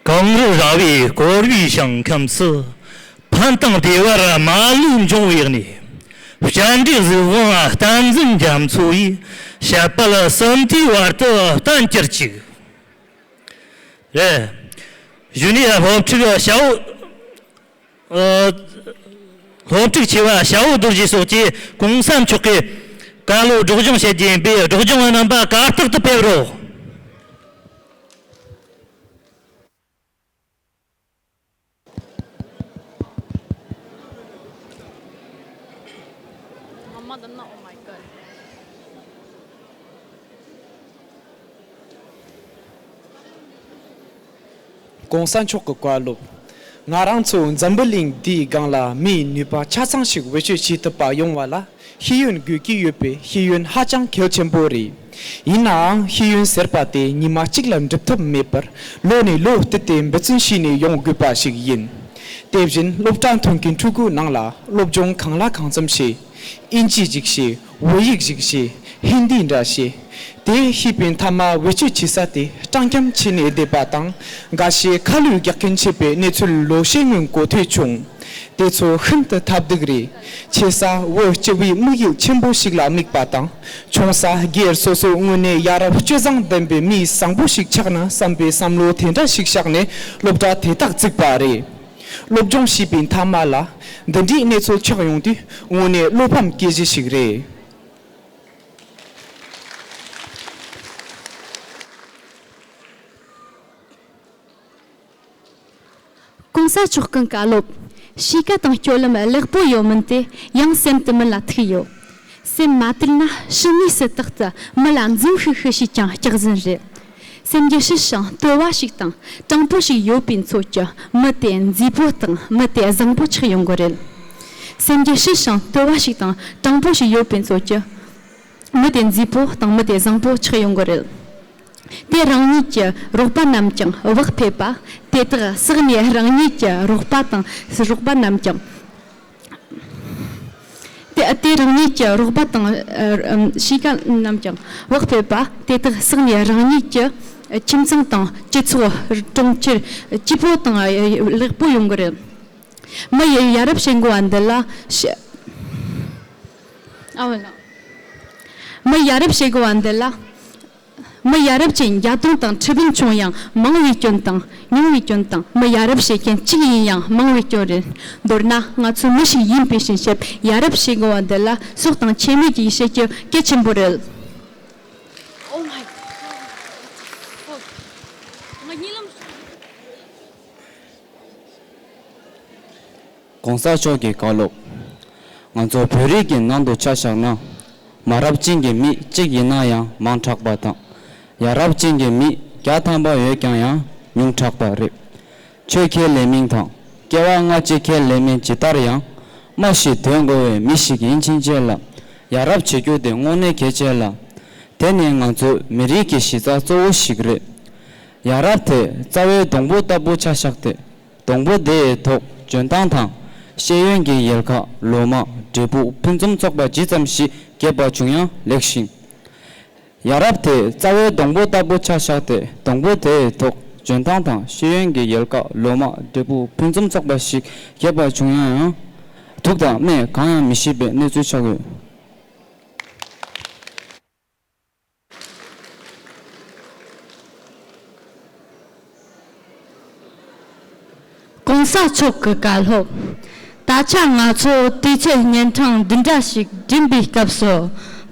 གངས་རི་རྭ་བའི་བསྐོར་བའི་ཞིང་ཁམས་སུ། ཕན་དང་བདེ་བར་མ་ལུས་འབྱུང་བའི་གནས། སྤྱན་འདྲེན་གཟུགས་དབང་བསྟན་འཛིན་རྒྱ་མཚོ་ཡི། ཞལ་དཔལ་གསུམ་དུས་བར་དུ་བསྟན་གྱུར་ཅིག། རེ། བཞུགས་གནས་སློབ་ཕྲུག་ཤ་བོ། སློབ་ཕྲུག་ཆེ་བ་ཞའོ་རྡོ་རྗེ་སོགས་ཀྱིས་གུང་ས་མཆོག་གི་བཀའ་སློབ་སྒྲོག་སྦྱང་བྱེད་ཀྱིན་པའི་སྒྲོག་སྦྱང་བ་རྣམ་པ་གར་སྟེགས་དུ་ཕེབས་རོགས། གོང་ས་མཆོག་གི་བཀའ་སློབ། ང་རང་ཚོ་འཛམ་བུ་གླིང་འདིའི་སྒང་ལ་མིའི་ནུས་པ་ཆ་ཚང་ཞིག་བེད་སྤྱོད་བྱེད་ཐུབ་པ་ཡོང་བ་ལ་ཤེས་ཡོན་དགོས་ཀྱི་ཡོད་པའི་ཤེས་ཡོན་ཧ་ཅང་གལ་ཆེན་པོ་རེད། ཡིན་ནའང་ཤེས་ཡོན་ཟེར་པ་དེ་ཉི་མ་གཅིག་ལ་འགྲུབ་ཐབས་མེད་པར་ལོ་ནས་ལོ་བསྟུད་དེ་འབད་བརྩོན་བྱས་ནས་ཡོང་དགོས་པ་ཞིག་ཡིན། དེ་བཞིན་སློབ་གྲྭ་མཐུན་གྱི་ཕྲུ་གུ་ནང་ལ་སློབ་སྦྱོང་གང་ལ་གང་འཚམ་བྱེད་ཨིན་ཅི་ཅིག་བྱེད། ཝེ་ཡིག་ཞིག་ཞེས་ཧིན་དིའི་འདྲ་ཞེས། དེ་ཤེས་པའི་མཐའ་མ་ཝེ་སྤྱོད་བྱེད་ས་དེ་སྤྲང་འཁྱམ་ཆེ་ནས་བསྡད་པ་དང་འགའ་ཤས་ཁ་ལུད་རྒྱག་མཁན་བྱས་པའི་གནས་ཚུལ་ལོ་ཤས་སྔོན་གོ་ཐོས་བྱུང། དེ་ཚོ་ཤིན་ཏུ་ཐབས་སྡུག་རེད། ཆེ་ས་ཝེ་སྤྱི་བའི་དམིགས་ཡུལ་ཆེན་པོ་ཞིག་ལ་དམིགས་པ་དང་ཆུང་ས་སྒེར་སོ་སོའི་དངོས་གནས་ཡ་རབས་སྤྱོད་བཟང་ལྡན་པའི་མི་བཟང་པོ་ཞིག་ཆགས་ན་བསམ་པའི་བསམ་བློ་དེ་འདྲ་ཞིག་བཞག་ནས་སློབ་གྲྭ་དེ་དག་བརྩིགས་པ་རེད། སློབ་སྦྱོང་བྱས་པའི་མཐའ་མ་ལ་འདི་འདྲའི་གནས་ཚུལ་ཆགས་ཡོང་དུས་དངོས་གནས་བློ་ཕམ་སྐྱེ་གཞི་ཞིག་རེད། གོང་ས་མཆོག་གི་བཀའ་སློབ། གཤིས་ཀ་དང་སྐྱོ་ལམ་ལེགས་པོ་ཡོད་མིན་དེ་ཡང་སེམས་དུ་མིན་ལ་ཐུག་ཡོད། སེམས་མ་དུལ་ན་ཕྱི་ནས་སུ་དག་གི་མི་ལ་འཛུམ་ཤིག་ཤིག་བྱས་ཀྱང་སྐྱག་ཟིན་རེད། སེམས་རྒྱུད་ཞི་ཞིང་དུལ་བ་ཞིག་དང་སྤྲང་པོ་ཞིག་ཡོད་པའི་ཚོད་ཀྱི་མི་དེ་མཛེས་པོ་དང་མི་དེ་བཟང་པོ་ཆགས་ཡོང་གི་རེད། སེམས་རྒྱུད་ཞི་ཞིང་དུལ་བ་ཞིག་དང་སྤྲང་པོ་ཞིག་ཡོད་པའི་ཚོད་ཀྱི་མི་དེ་མཛེས་པོ་དང་མི་དེ་བཟང་པོ་ཆགས་ཡོང་གི་རེད། དེས་རང་ཉིད་ཀྱི་རོགས་པ་རྣམས་ཀྱང་བག་ཕེབས་པ་དེ་དག་བསགས་ནས་རང་ཉིད་ཀྱི་རོགས་པ་དང་རོགས་པ་རྣམས་ཀྱང། དེས་རང་ཉིད་ཀྱི་རོགས་པ་དང་གཤིས་ཀ་རྣམས་ཀྱང་བག་ཕེབས་པ་དེ་དག་བསགས་ནས་རང་ཉིད་ཀྱི་ཁྱིམ་ཚང་དང་སྤྱི་ཚོགས་གྲོང་ཁྱེར་སྐྱིད་པོ་དང་ལེགས་པོ་ཡོང་གི་རེད། མི་ཡི་ཡ་རབས་བྱེད་འགོ་བ་འདི་ལ་མི་ཡ་རབས་བྱེད་འགོ་བ་འདི་ལ། མི་ཡ་རབས་ཀྱི་འཇའ་སྟོང་དང་ཁྲི་འབུམ་བྱུང་ཡང་མང་བའི་སྐྱོན་དང། ཉུང་བའི་སྐྱོན་དང་མི་ཡ་རབས་བྱེད་མཁན་གཅིག་ཡིན་ཡང་མང་བའི་སྐྱོན་རེད། མདོར་ན་ང་ཚོ་མི་ཞིག་ཡིན་པའི་ཕྱིན་ཆད་ཡ་རབས་བྱེད་དགོས་བ་འདི་ལ་སྲོག་དང་ཁྱད་མེད་ཀྱི་ཡི་ཤེས་ཀྱི་སྐད་ཆེན་པོ་རེད། ྋགོང་ས་མཆོག་གིས་བཀའ་སློབ། ང་ཚོ་བོད་རིགས་ཀྱི་ནང་དུ་ཆ་བཞག་ན། མ་རབས་ཅན་གྱི་མི་གཅིག་ཡིན་ན་ཡང་མང་དྲགས་པ་དང། ཡ་རབས་ཅན་གྱི་མི་བརྒྱ་ཐམ་པ་ཡོད་ཀྱང་ཡང་ཉུང་དྲགས་པ་རེད། ཆོས་ཁས་ལེན་མིན་དང་སྐྱེ་བ་སྔ་ཕྱི་ཁས་ལེན་མིན་ཇི་ལྟར་ཡང། མ་ཞིག་དོན་གོ་བའི་མི་ཞིག་ཡིན་ཕྱིན་ཆད་ལ་ཡ་རབས་བྱེད་རྒྱུ་དེ་དངོས་གནས་གལ་ཆེ་ལ། དེ་ནི་ང་ཚོའི་མི་རིགས་ཀྱི་གཞི་རྩ་གཙོ་བོ་ཞིག་རེད། ཡ་རབས་དེ་རྩ་བའི་སྡོང་པོ་ལྟ་བུ་ཆ་བཞག་སྟེ། སྡོང་པོ་དེའི་ཐོག་འཇོན་ཐང་དང། ཤེས་ཡོན་གྱི་ཡལ་ག་ལོ་མ་འབྲས་བུ་ཕུན་སུམ་ཚོགས་པ་ཇི་ཙམ་ཞིག་རྒྱས་པ་བྱུང་ཡང་ལེགས་ཤིང། ཡ་རབས་དེའི་རྩ་བའི་སྡོང་པོ་ལྟ་བུ་ཆ་བཞག་སྟེ་སྡོང་པོ་དེའི་ཐོག་འཇོན་ཐང་དང་ཤེས་ཡོན་གྱི་ཡལ་ག་ལོ་མ་འབྲས་བུ་ཕུན་སུམ་ཚོགས་པ་ཞིག་རྒྱས་པ་བྱུང་ཡང་ཡང། དུག་དང་སྨན་གང་ཡང་མི་ཤེས་པའི་གནས་ཚུལ་ཆགས་ཡོད། གོང་ས་མཆོག་གི་བཀའ་སློབ། ད་ཆ་ང་ཚོ་དུས་ཚོད་གཉན་འཕྲང་འདི་འདྲ་ཞིག་འགྲིམས་པའི་སྐབས་སུ།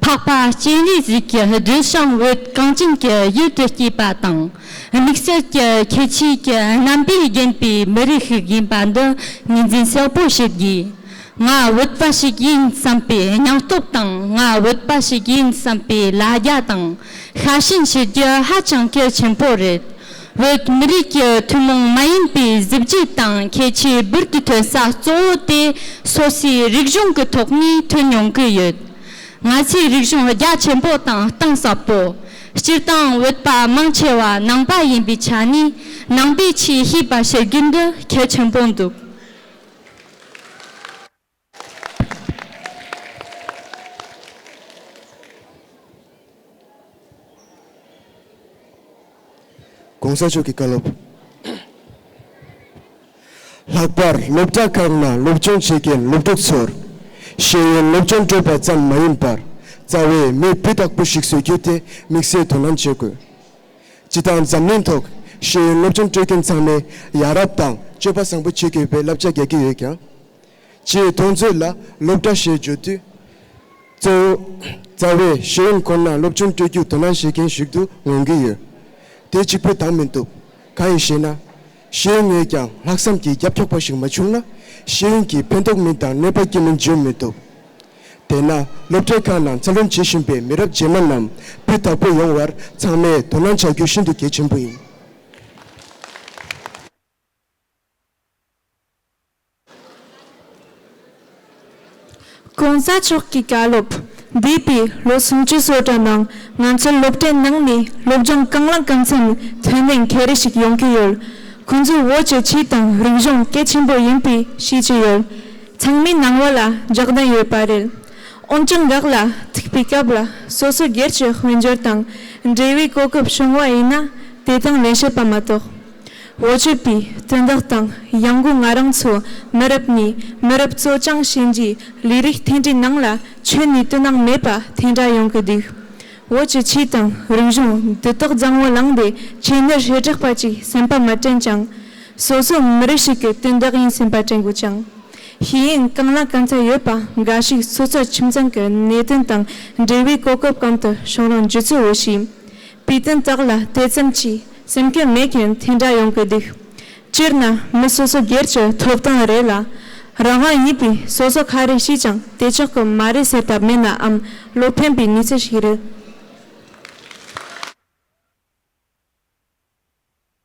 འཕགས་པ་སྤྱན་རས་གཟིགས་ཀྱི་གདུལ་བྱའམ་འོད་གངས་ཅན་གྱི་ཡུལ་དུ་སྐྱེས་པ་དང། དམིགས་བསལ་གྱི་ཁྱད་ཆོས་ཀྱི་རྣམ་པས་བརྒྱན་པའི་མི་རིགས་ཤིག་ཡིན་པ་འདི་ངོས་འཛིན་གསལ་པོ་བྱེད་དགོས། ང་བོད་པ་ཞིག་ཡིན་བསམ་པའི་སྙིང་སྟོབས་དང་ང་བོད་པ་ཞིག་ཡིན་བསམ་པའི་ལ་རྒྱ་དང་ཤ་ཞེན་བྱེད་རྒྱུ་ཧ་ཅང་གལ་ཆེན་པོ་རེད། བོད་མི་རིགས་ཀྱི་ཐུན་མོང་མ་ཡིན་པའི་གཟི་བརྗིད་དང་ཁྱད་ཆོས་འབུར་དུ་ཐོན་ས་གཙོ་བོ་དེ་སོ་སོའི་རིག་གཞུང་གི་ཐོག་ནས་ཐོན་མྱོང་གི་ཡོད། ང་ཚོའི་རིག་གཞུང་རྒྱ་ཆེན་པོ་དང་གཏིང་ཟབ་པོ། སྤྱིར་བཏང་བོད་པ་མང་ཆེ་བ་ནང་པ་ཡིན་པའི་ཆ་ནས་ནང་པའི་ཆེས་ཤེས་པ་བྱེད་རྒྱུ་འདི་གལ་ཆེན་པོ་འདུག། ྋགོང་ས་མཆོག་གི་བཀའ་སློབ། ལྷག་པར་སློབ་གྲྭ་ཁག་ནང་སློབ་སྦྱོང་བྱེད་མཁན་སློབ་ཕྲུག་ཚོར་ཤེས་ཡོན་སློབ་སྦྱོང་སྤྲོད་པ་ཙམ་མ་ཡིན་པར་རྩ་བའི་མི་བུ་དག་པོ་ཞིག་བཟོ་རྒྱུ་དེ་དམིགས་བསལ་དོ་སྣང་བྱེད་དགོས། སྤྱི་དང་འཛམ་གླིང་ཐོག་ཤེས་ཡོན་སློབ་སྦྱོང་སྤྲོད་མཁན་ཚང་མས་ཡ་རབས་དང་སྤྱོད་པ་བཟང་པོ་བྱེད་དགོས་པའི་བསླབ་བྱ་རྒྱག་གི་ཡོད་ཀྱང། སྤྱིའི་མཐོང་ཚོད་ལ་སློབ་གྲྭ་ཞེས་བརྗོད་དུས། གཙོ་བོ་རྩ་བའི་ཤེས་ཡོན་ཁོ་ན་སློབ་སྦྱོང་སྤྲོད་རྒྱུར་དོ་སྣང་བྱེད་མཁན་ཞིག་ཏུ་ངོས་འགྱུར་ཡོད། དེ་གཅིག་པུའི་དང་མི་འདུག་གང་ཡིན་ཞེ་ན། ཤེས་ཡོན་ཡོད་ཀྱང་ལྷག་བསམ་གྱི་རྒྱབ་འཁྱོག་པ་ཞིག་མ་བྱུང་ན་ཤེས་ཡོན་གྱིས་ཕན་ཐོགས་མིན་དང་གནོད་པ་སྐྱེ་མིན་བརྗོད་མི་ཐུབ། དེས་ན་སློབ་གྲྭའི་ཁག་ནང་འཚར་ལོངས་བྱེད་བཞིན་པའི་མི་རབས་རྗེས་མ་རྣམས་སྤུས་དག་པོ་ཡོང་བར་ཚང་མས་དོ་སྣང་བྱ་རྒྱུ་ཤིན་ཏུ་གལ་ཆེན་པོ་ཡིན། གོང་ས་མཆོག་གི་བཀའ་སློབ་འདས་པའི་ལོ་སུམ་ཅུ་སོ་གྲངས་ནང་ང་ཚོར་སློབ་གྲྭའི་ནང་ནས་སློབ་སྦྱོང་གང་ལ་གང་འཚམ་ཐོན་ནས་མཁས་རི་ཞིག་ཡོང་གི་ཡོད། ཁོང་ཚོའི་བོད་ཀྱི་ཆོས་དང་རིག་གཞུང་གལ་ཆེན་པོ་ཡིན་པའི་ཤེས་ཀྱི་ཡོད། ཚང་མའི་སྣང་བ་ལ་འཇགས་གདན་ཡོད་པ་རེད། འོན་ཀྱང་འགག་ལ་ཐུག་པའི་སྐབས་ལ་སོ་སོའི་སྒེར་གྱི་དཔལ་འབྱོར་དང་འབྲེལ་བའི་གོ་སྐབས་བྱུང་བ་ཡིན་ན་དེ་དང་ལེན་བྱེད་པ་མ་གཏོགས། འོ་བྱེད་པའི་དོན་དག་དང་གཡང་དགོས་ང་རང་ཚོ་མི་རབས་ནས་མི་རབས་གཙོ་རྐྱང་བྱས་འདིའི་ལས་རིགས་འཐེན་འདྲའི་ནང་ལ་ཆོས་ནས་དོན་སྣང་མེད་པ་འཐེན་འདྲ་ཡོང་གི་འདུག་འོ་ཅི་ཆོས་དང་རིག་གཞུང་འདི་དག་བཟང་བོ་ལངས་པའི་ཆེད་ནོར་བྱེད་དྲགས་པ་ཅིག་སེམས་པ་མི་དྲན་ཅིང། སོ་སོ་མི་རིགས་ཤིག་གི་དོན་དག་ཡིན་སེམས་པ་དྲན་དགོས་ཀྱང། ཤེས་ཡོན་གང་ལ་གང་འཚམ་ཡོད་པ་འགའ་ཞིག་སོ་སོའི་ཁྱིམ་ཚང་གི་གནད་དོན་དང་འབྲེལ་བའི་གོ་སྐབས་གམ་དུ་བྱུང་རུང་རྗེ་བཙུན་འོས་ཤིང་པའི་དོན་དག་ལ་དེ་ཙམ་གྱིས་སེམས་སྐྱོ་མེད་མཁན་དེ་འདྲ་ཡོང་གི་འདུག་སྤྱིར་ན་མི་སོ་སོ་སྒེར་གྱི་ཐོབ་ཐང་རེད་ལ། རང་དབང་ཡིན་པས་སོ་སོ་ག་རེ་བྱས་ཀྱང་དེ་ཆོག་གི་མ་རེད་ཟེར་ཐབས་མེད་ནའང་བློ་ཕན་པའི་གནས་ཚུལ་ཞིག་རེད།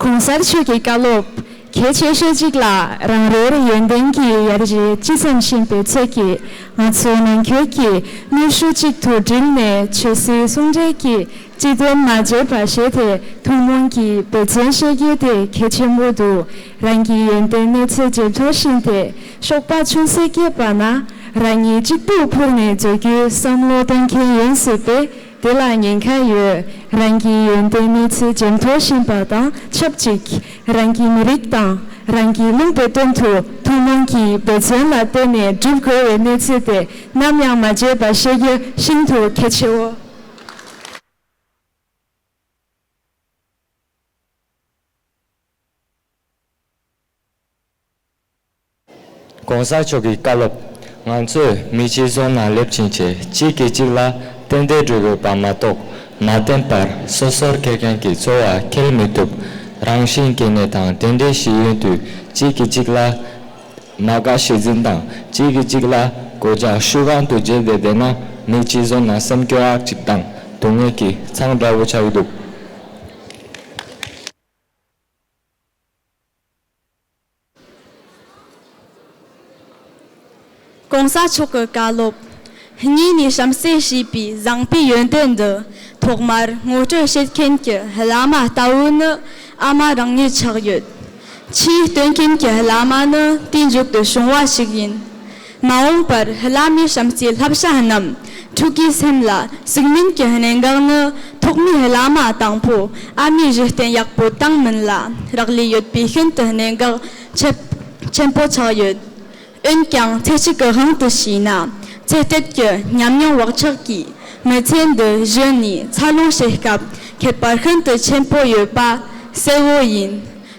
གོང་གསལ་ཆོས་ཀྱི་བཀའ་སློབ་གལ་ཆེ་ཤོས་གཅིག་ལ་རང་རེའི་ཡོན་ཏན་གྱི་ཡར་རྒྱས་ཅི་ཙམ་ཕྱིན་པའི་ཚོད་ཀྱིས་ང་ཚོའི་ནང་ཁུལ་གྱི་ནུས་ཤུགས་གཅིག་ཏུ་བསྒྲིལ་ནས་ཆོས་སྲིད་ཟུང་འབྲེལ་གྱི་སྤྱི་དོན་མ་བརྗེད་པར་བྱས་ཏེ་ཐུན་མོང་གི་བདེ་བརྩོན་བཤད་རྒྱུ་དེ་གལ་ཆེན་པོ་འདུག་རང་གི་ཡོན་ཏན་གནོད་འཚེ་ཇེ་མཐོར་ཕྱིན་ཏེ་གཤོག་པ་ཆུང་ཟད་སྐྱེས་པ་ན་རང་ཉིད་གཅིག་པུར་འཕུར་ནས་འཛུལ་རྒྱུའི་བསམ་བློ་གཏོང་མཁན་ཡིན་སྲིད་པས་དེ་ལ་ཉེན་ཁ་ཡོད། རང་གི་ཡོན་ཏན་གནོད་འཚེ་ཇེ་མཐོར་ཕྱིན་པ་དང་ཆབས་ཅིག་རང་གི་མི་རིགས་དང་རང་གི་ལུང་པའི་དོན་དུ་ཐུན་མོང་གི་འབད་བརྩོན་ལ་བརྟེན་ནས་བསྒྲུབ་དགོས་བའི་གནོད་འཚེ་དེ་ནམ་ཡང་མ་བརྗེད་པ་ཤེས་རྒྱུ་ཤིན་ཏུ་གལ་ཆེའོ། ྋགོང་ས་མཆོག་གི་བཀའ་སློབ། ང་ཚོས་མི་གཅིག་བཟུང་ན་ལེབ་ཕྱིན་ཆད་གཅིག་གིས་གཅིག་ལ་རྟེན་འབྲེལ་སྒྲོལ་དགོས་པ་མ་གཏོགས་མ་བརྟེན་པར་སོ་སོར་འཁྱེར་མཁན་གྱི་འཚོ་བ་འཁྱེར་མི་ཐུབ། རང་བཞིན་གྱི་ནད་དང་དེ་འདྲའི་གཞི་ཡོད་དུས་གཅིག་གིས་གཅིག་ལ་མ་དགའ་ཞེ་འཛིན་དང་གཅིག་གིས་གཅིག་ལ་གོད་རྒྱག་ཤུགས་གང་དུ་བརྗེད་བསྡད་བསྡད་ན་མི་གཅིག་བཟུང་ན་སེམས་སྐྱོ་ཨག་ཅིག་དང་སྡུག་བསྔལ་གྱི་མཚང་འདྲ་བོ་ཆགས་འདུག། གོང་ས་མཆོག་གི་བཀའ་སློབ་གཉིས་ནས་གཤམ་གསལ་བྱས་པའི་བཟང་པོའི་ཡོན་ཏན་འདི་ཐོག་མར་ངོ་སྤྲོད་བྱེད་མཁན་གྱི་བླ་མ་ལྟ་བུ་ནི་ཨ་མ་རང་ཉིད་ཆགས་ཡོད། ཕྱིའི་སྟོན་མཁན་གྱི་བླ་མ་ནི་དུས་མཇུག་ཏུ་བྱུང་བ་ཞིག་ཡིན། མ་འོངས་པར་བླ་མའི་བྱམས་བརྩེའི་བསླབ་བྱ་རྣམས་ཕྲུ་གུའི་སེམས་ལ་ཟུག་མིན་གྱི་གནད་འགག་ནི་ཐོག་མའི་བླ་མ་དང་པོ་ཨ་མའི་གཞི་རྟེན་ཡག་པོ་བཏང་མིན་ལ་རག་ལས་ཡོད་པས་ཤིན་ཏུ་གནད་འགག་ཆེན་པོ་ཆགས་ཡོད། འོན་ཀྱང་ཚེ་གཅིག་གི་དབང་དུ་བྱས་ན་ཚེ་གཏད་ཀྱི་ཉམས་མྱོང་བག་ཆགས་ཀྱིས་མི་ཚེ་འདི་གཞི་ནས་འཚར་ལོངས་བྱེད་སྐབས་ཁྱད་པར་ཤིན་ཏུ་ཆེན་པོ་ཡོད་པ་གསལ་བོ་ཡིན།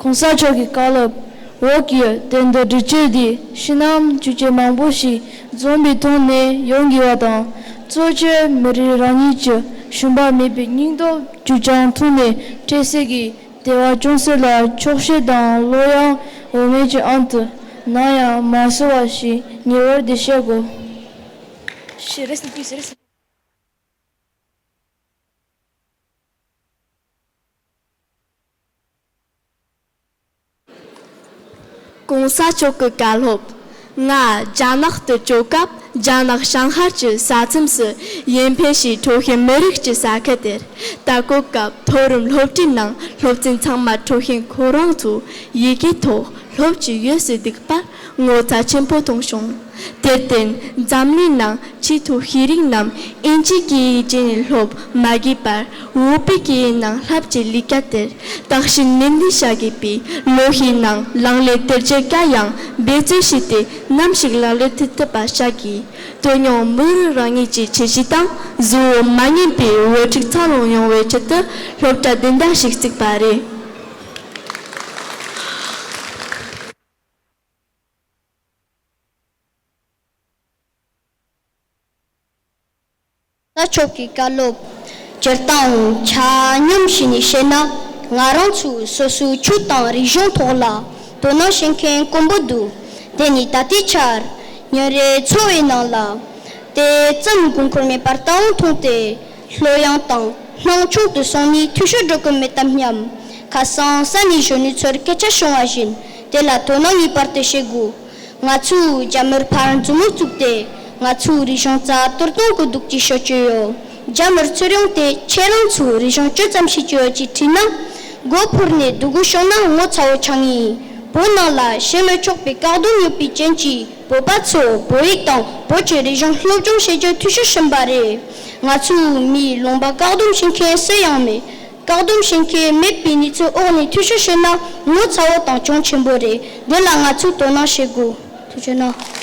གོང་ས་མཆོག་གི་བཀའ་སློབ་འོག་གི་དེབ་འདི་འབྲི་སྤྱོད་འདི་ཕྱི་ནང་བཅུ་ཆའི་མང་པོ་ཞིག་འཛོམས་པའི་ཐོག་ནས་ཡོང་དགོས་བ་དང། གཙོ་བྱས་མི་རིགས་རང་ཉིད་ཀྱི་ཞུམ་པ་མེད་པའི་སྙིང་སྟོབས་བཅུ་ཆའང་ཐུགས་ནས་སྤྲད་གསལ་གྱི་དེ་བ་ཅུང་ཟད་ལ་འཁྱོག་བཤད་དང་བློ་ཡང་འོ་མའི་གྱི་ཨང་དུ་སྣང་ཡང་མ་གསོ་བ་ཞིག་ཉེ་བར་འདི་བཤད་དགོས། གོང་ས་མཆོག་གི་བཀའ་སློབ། ང་རྒྱ་ནག་ཏུ་བསྐྱོད་སྐབས་རྒྱ་ནག་བྱང་ཤར་གྱི་ས་མཚམས་སུ་ཡེན་ཕེ་ཞེས་ཁྲོ་ཞན་མི་རིགས་ཀྱི་ས་ཁུལ་དེར་ལྟ་སྐོར་སྐབས་མཐོ་རིམ་སློབ་གྲྭའི་ནང་སློབ་ཚན་ཚང་མ་ཁྲོ་ཞན་ཁོ་རང་ཚོའི་ཡི་གེའི་ཐོག་སློབ་ཀྱི་ཡོད་ཟེར་འདུག་པར་ངོ་ཚ་ཆེན་པོ་གཏོང་བྱུང། དེར་བརྟེན་འཛམ་གླིང་ནང་སྤྱི་ཐུགས་ཤེས་རིག་རྣམས་དབྱིན་ཇིའི་སྐད་ཡིག་སྤྱི་ནས་སློབ་མ་དགོས་པར་བོད་པའི་སྐད་ཡིག་ནང་ལྷབ་ཀྱི་ལས་ཀ་དེར་དག་ཞིང་ནན་ཏན་བྱ་དགོས་པའི་ལོ་ཤས་ནང་ལངས་ལས་དེར་སྤྱིར་དགའ་ཡང་འབད་བརྩོན་བྱས་ཏེ་ནམ་ཞིག་ལག་ལེན་ཐུབ་ཐུབ་པ་བྱ་དགོས། དོན་ཡང་མི་རིགས་རང་ཉིད་ཀྱི་ཁྱད་གཤིས་དང་གཟུ་བོ་མ་ངེས་པའི་བོད་ཕྲུག་འཚར་ལོངས་ཡོང་བའི་ཆེད་དུ་སློབ་གྲྭ་དེ་འདྲ་ཞིག་བརྩིགས་པ་རེད། ས་ཕྱོགས་ཀྱི་བཀའ་སློབ། སྤྱིར་བཏང་ཆ་སྙོམས་བྱས་ནས་བཤད་ན་ང་རང་ཚོའི་སོ་སོའི་ཆོས་དང་རིག་གཞུང་ཐོག་ལ་དོ་སྣང་བྱེད་མཁན་དཀོན་པོ་འདུག་དེ་ནི་ད་ལྟའི་ཆར་ཉིན་རེའི་འཚོ་བའི་ནང་ལ་དེ་ཙམ་དགོས་མཁོར་མེད་པར་ལྟ་བུ་མཐོང་སྟེ། ལྷོད་ཡངས་དང་སྣང་ཆུང་དུ་སོང་ནས་འཐུས་ཤོར་འགྲོ་གི་མེད་དམ་སྙམ། ཁ་སང་ས་གནས་གཞོན་ནུ་ཚོར་སྐད་ཆ་བྱུང་བ་བཞིན་དེ་ལ་དོ་སྣང་ངེས་པར་དུ་བྱེད་དགོས། ང་ཚོས་རྒྱ་མིར་ཕར་མཛུབ་མོ་བཙུགས་ཏེ་ང་ཚོའི་རིག་གཞུང་རྩ་གཏོར་གཏོང་གི་འདུག་ཅེས་ཤོད་ཀྱི་ཡོད། རྒྱ་མིར་ཚུར་ཡོང་སྟེ་ཁྱེད་རང་ཚོས་རིག་གཞུང་ཅི་ཙམ་ཤེས་ཀྱི་ཡོད་ཅེས་དྲིས་ན། མགོ་འཕུར་ནས་སྡུག་གུ་ཤོང་ན་ངོ་ཚ་བོ་ཆགས་ངེས་ཡིན། བོད་ནང་ལ་བྱེད་མི་ཆོག་པའི་བཀག་སྡོམ་ཡོད་པའི་རྐྱེན་གྱིས་བོད་པ་ཚོས་བོད་ཡིག་དང་བོད་ཀྱི་རིག་གཞུང་སློབ་སྦྱོང་བྱེད་རྒྱུ་འཐུས་ཤོར་ཕྱིན་པ་རེད། ང་ཚོའི་མིའི་ལུང་པ་བཀག་སྡོམ་བྱེད་མཁན་གསལ་ཡང་མེད། བཀག་སྡོམ་བྱེད་མཁན་མེད་པའི་གནས་ཚུལ་འོག་ནས་འཐུས་ཤོར་བྱས་ན་ངོ་ཚ་བོ་དང་གྱོང་ཆེན་པོ་རེད། འདི་ལ་ང་ཚོས་དོ་སྣང་བྱེད་དགོས། ཐུགས་ཆེ་གནང།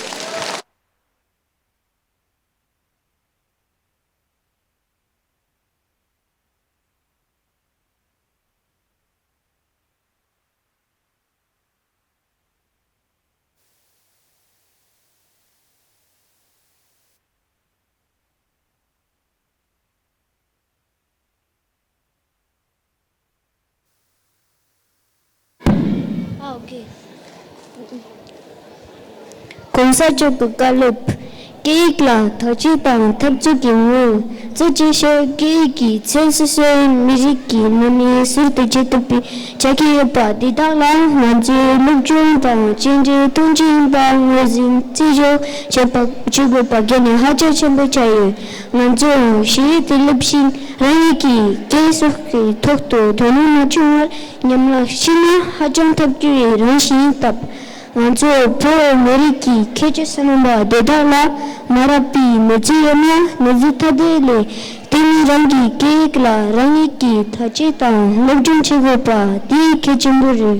གོང་ས་མཆོག་གི་བཀའ་སློབ། སྐད་ཡིག་ལ་དག་བཅོས་དང་འཐབ་རྩོད་ཀྱི་ངོ་བོ་བཅས་ཤོག་སྐད་ཡིག་གིས་མཚོན་སོ་སོའི་མི་རིགས་ཀྱི་ནང་མི་ཟུར་དུ་བསྐྱེད་ཐུབ་པའི་བྱ་གི་ཡོད་པ་འདི་དག་ལ་ང་ཚོས་སློབ་སྦྱོང་དང་གཅེས་འབྲེལ་གཏོང་རྒྱུ་ཡིན་པ་ངོས་ཟིན་རྩིས་སྦྱོར་བྱེད་པ་བྱེད་དགོས་པ་དགོས་ནས་ཧ་ཅང་ཆེན་པོ་ཆགས་ཡོད། ང་ཚོས་ཞི་བདེ་དེ་སླེབས་ཤིང་རང་ཉིད་ཀྱི་སྐྱེ་སྲོག་གི་ཐོག་ཏུ་དོ་སྣང་མ་བྱུང་བར་ཉམས་བརླག་ཕྱིན་ན་ཧ་ཅང་ཐབས་སྐྱོ་བའི་རང་བཞིན་ཡིན་སྟབས། ང་ཚོ་བོད་མི་རིགས་ཀྱི་ཁྱད་ཆོས་སུ་སྣང་བ་དེ་དག་ལ་མ་རག་པའི་གནོད་འཚེ་ཡོད་ན་གནོད་འཚེ་ཐ་དད་ལས་དེ་ནི་རང་གི་སྐད་ཡིག་ལ་རང་ཉིད་ཀྱིས་ཐ་སྐྱེད་དང་སློབ་སྦྱོང་བྱེད་དགོས་པ་དེ་གལ་ཆེན་པོ་རེད།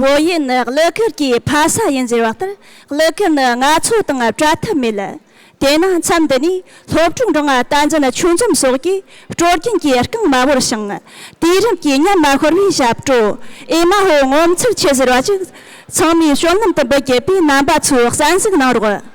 བོད་ཡིག་ནི་གླུ་གར་གྱི་ཕ་ས་ཡིན་ཟེར་བ་ལྟར་གླུ་གར་ནི་ང་ཚོ་དང་བྲལ་ཐབས་མེད། དེས་ན་མཚམས་འདི་ནས་སློབ་ཕྲུག་འབྲོང་བ་བསྟན་འཛིན་ཆོས་འཛོམས་སོགས་ཀྱིས་སྤྲོ་རྒྱུན་གྱི་རྐང་མ་བོར་ཞིང། དུས་རིམ་གྱི་ཉམས་མ་ཤོར་བའི་ཞབས་བྲོ་ཨེ་མ་ཧོ་ངོ་མཚར་ཆེ་ཟེར་བ་ཅིག་ཚང་མས་བསོད་ནམས་དུ་འབུལ་དགོས་པའི་རྣམ་པ་ཚོས་གསན་གཟིགས་གནང་རོགས།